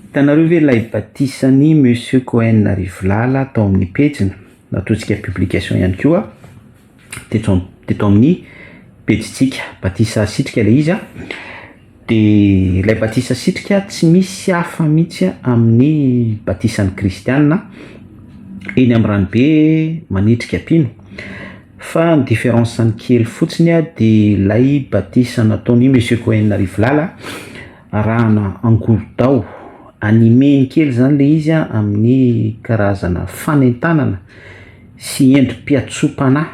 Hitanareo ve ilay batisan'i Monsieur Cohen Arivolala tao amin'ny pejiny, natotsika publication ihany koa teto am- teto amin'ny pejintsika, batisa sitrika ilay izy a, dia ilay batisa sitrika tsy misy hafa mihitsy amin'ny batisan'ny kristiana eny amin'ny ranobe manitrika mpino, fa ny différence-ny kely fotsiny dia ilay batisa nataon'i Monsieur Cohen Arivolala, arahana angorodao, anime kely zany le izy a, amin'ny karazana fanentanana sy endri-piatsoam-panahy,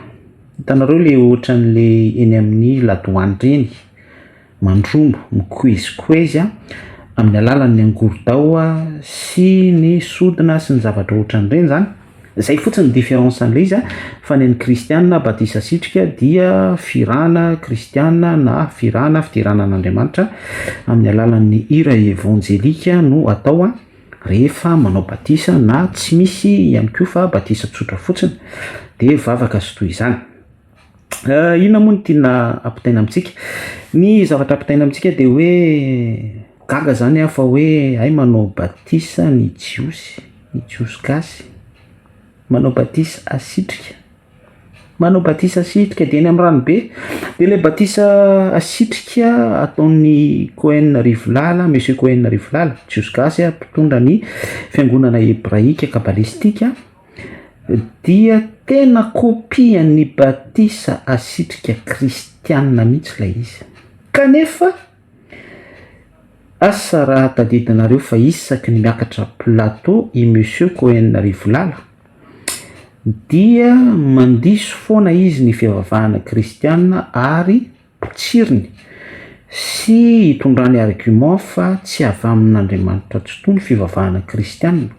hitanareo le ohatran'le eny amin'ny ladoany reny, mandrombo, mikoezikoezy a, amin'ny alalan'ny angorodao sy ny sodina sy ny zavatra ohatran'ireny zany. Zay fotsiny ny différence an'le izy a, fa ny an'ny kristiana batisa asitrika dia firana kristiana na firana fiderana an'Andriamanitra amin'ny alalan'ny hira evanjelika no atao a rehefa manao batisa na tsy misy ihany koa fa batisa tsotra fotsiny dia vavaka sy toy izany. Inona moa no tiana ampitaina amintsika? Ny zavatra ampitaina amintsika dia hoe gaga izany aho fa hoe hay manao batisa ny Jiosy, ny Jiosy gasy, manao batisa asitrika, manao batisa asitrika dia eny amin'ny ranobe, dia ilay batisa asitrika ataon'i Cohen Rivolala, Monsieur Cohen Rivolala, Jiosy gasy mpitondra ny fiangonana hebraika kabalistika. Dia tena kopia ny batisa asitrika kristiana mihitsy ilay izy. Kanefa, asa raha tadidinareo fa isaky ny miakatra plateau i Monsieur Cohen Rivolala dia mandiso foana izy ny fivavahana kristiana ary, tsirony sy hitondrany argument fa tsy avy amin' Andriamanitra tsitoha ny fivavahana kristiana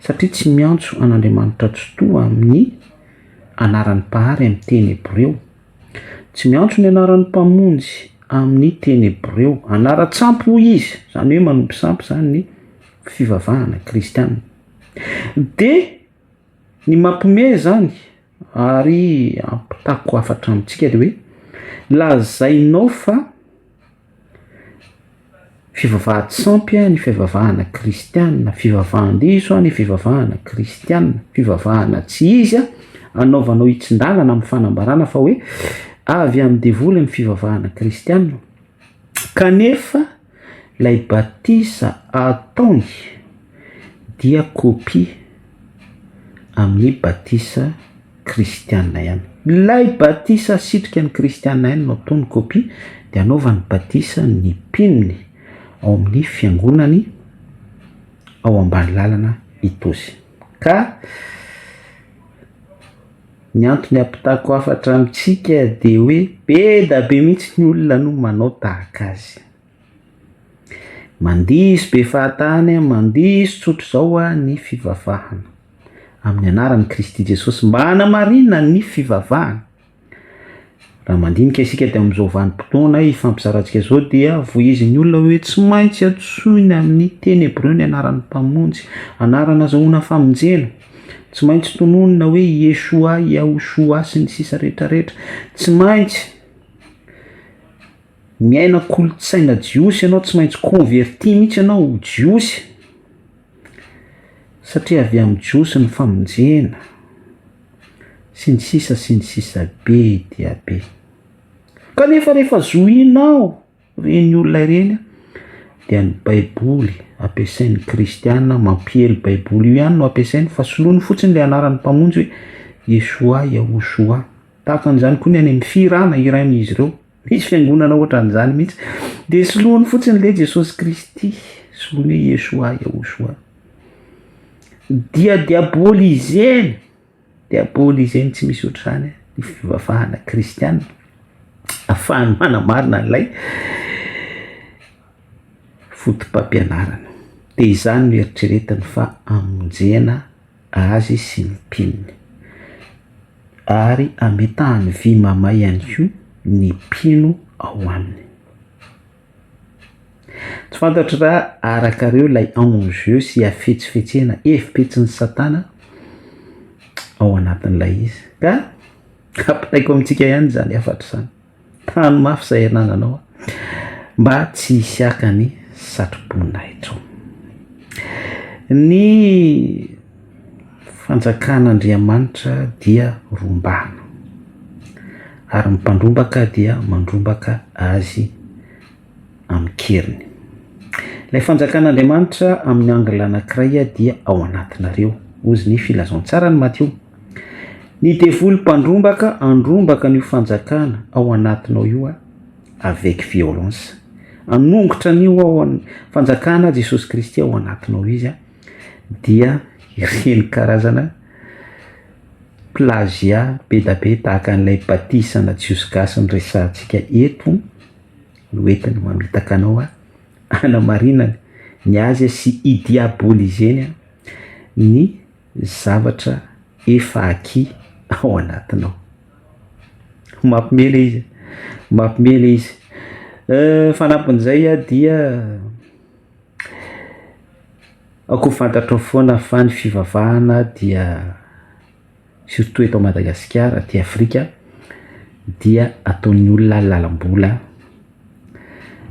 satria tsy miantso an' Andriamanitra tsitoha amin' ny anaran' ny Mpahary amin' ny teny hebreo, tsy miantso ny anaran' ny Mpamonjy amin' ny teny hebreo, anaran-tsampy hoy izy, izany hoe manompo sampy izany ny fivavahana kristiana dia Ny mampiomehy izany ary ampitako hafatra amintsika dia hoe lazainao fa fivavahady sampy ny fivavahana kristianina, fivavahan-diso ny fivavahana kristianina, fivavahana tsy izy, anaovanao hitsin-dalana amin'ny fanambarana fa hoe avy amin'ny devoly ny fivavahana kristianina kanefa. Ilay batisa ataony dia kopia amin'ny batisa kristiana ihany. Ilay batisa asitrika ny kristiana ihany no ataony kopia dia anaovany batisa ny mpinony ao amin'ny fiangonany ao Ambanilalana Itozy. Ka. Ny antony ampitako hafatra amintsika dia hoe be dia be mihitsy ny olona no manao tahaka azy. Mandiso be fahatany, mandiso tsotra izao ny fivavahana, amin'ny anaran'i Kristy Jesosy mba hanamarinana ny fivavahana. Raha mandinika isika dia amin'izao vanim-potoana hifampizarantsika izao dia vohizin'ny olona hoe tsy maintsy antsoina amin'ny teny hebreo ny anaran'ny Mpamonjy, anarana azahoana famonjena. Tsy maintsy tononina hoe Yeshua, Yahushua, sy ny sisa rehetrarehetra. Tsy maintsy miaina kolontsaina jiosy ianao, tsy maintsy converti mihitsy ianao ho jiosy. Satria avy amin'ny Jiosy ny famonjena, sy ny sisa sy ny sisa be dia be. Kanefa rehefa zohinao ireny olona ireny dia ny baiboly ampiasain'ny kristiana mampiely baiboly io ihany no ampiasainy fa soloiny fotsiny ilay anaran'ny mpamonjy hoe Yeshua, Yahushua. Tahaka an'izany koa ny any amin'ny fihirana hirain'izy ireo. Hisy fiangonana ohatran'izany mihitsy. Dia soloany fotsiny ilay Jesosy Kristy, soloany hoe Yeshua, Yahushua. Dia diabolizeny, diabolizeny tsy misy ohatr'izany ny fivavahana kristiana. Afahany manamarina an'ilay fotopampianarana. Dia izany no eritreretiny fa amonjena azy sy ny mpinony. Ary ametahany vy mamay ihany koa ny mpino ao aminy. Tsy fantatro raha arakareo ilay enjeu sy hafetsifetsena hevipetsin'i Satana ao anatin'ilay izy ka ampitaiko amintsika ihany izany hafatra izany. Hany mafy izay anananao mba tsy hisiaka ny satroboninahitro. Ny fanjakan'Andriamanitra dia rombana ary ny mpandrombaka dia mandrombaka azy. amin-keriny. Ilay fanjakan'Andriamanitra amin'ny angle anankiray dia ao anatinareo, hozy ny filazantsaran'i Matio. Ny devoly mpandrombaka andrombaka an'io fanjakana ao anatinao io avec violence. Anongotra an'io ao an- fanjakana Jesosy Kristy ao anatinao izy dia ireny karazana plagiat be dia be tahaka an'ilay batisa ana Jiosy gasy niresahantsika eto, no entiny mamitaka anao hanamarinany ny azy sy hidiabolizeny ny zavatra efa acquis ao anatinao. Mampiomehy ilay izy, mampiomehy ilay izy. Ny fanampin'izay dia aoka ho fantatrao foana fa ny fivavahana dia. surtout eto Madagasikara aty Afrika dia ataon'ny olona lalam-bola,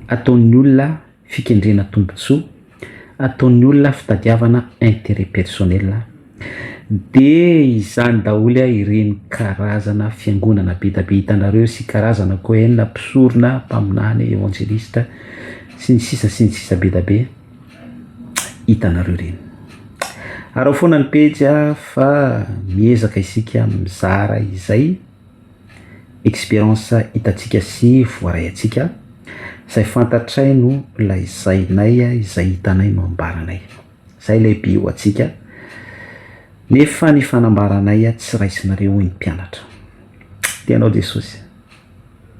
ataon'ny olona fikendrena tombontsoa, ataon'ny olona fitadiavana intérêt personnel, dia izany daholo ireny karazana fiangonana bedabe hitanareo sy karazana cohen, mpisorona, mpaminany, evangeliste sy ny sisa sy ny sisa bedabe. hitanareo ireny, arao foana ny pejy fa miezaka isika mizara izay experience hitantsika sy voaray antsika, izay fantatray no lazainay, izay hitanay no ambaranay, izay ilay be ho antsika, nefa ny fanambaranay tsy raisinareo hoy ny mpianatra, Tenao Jesosy.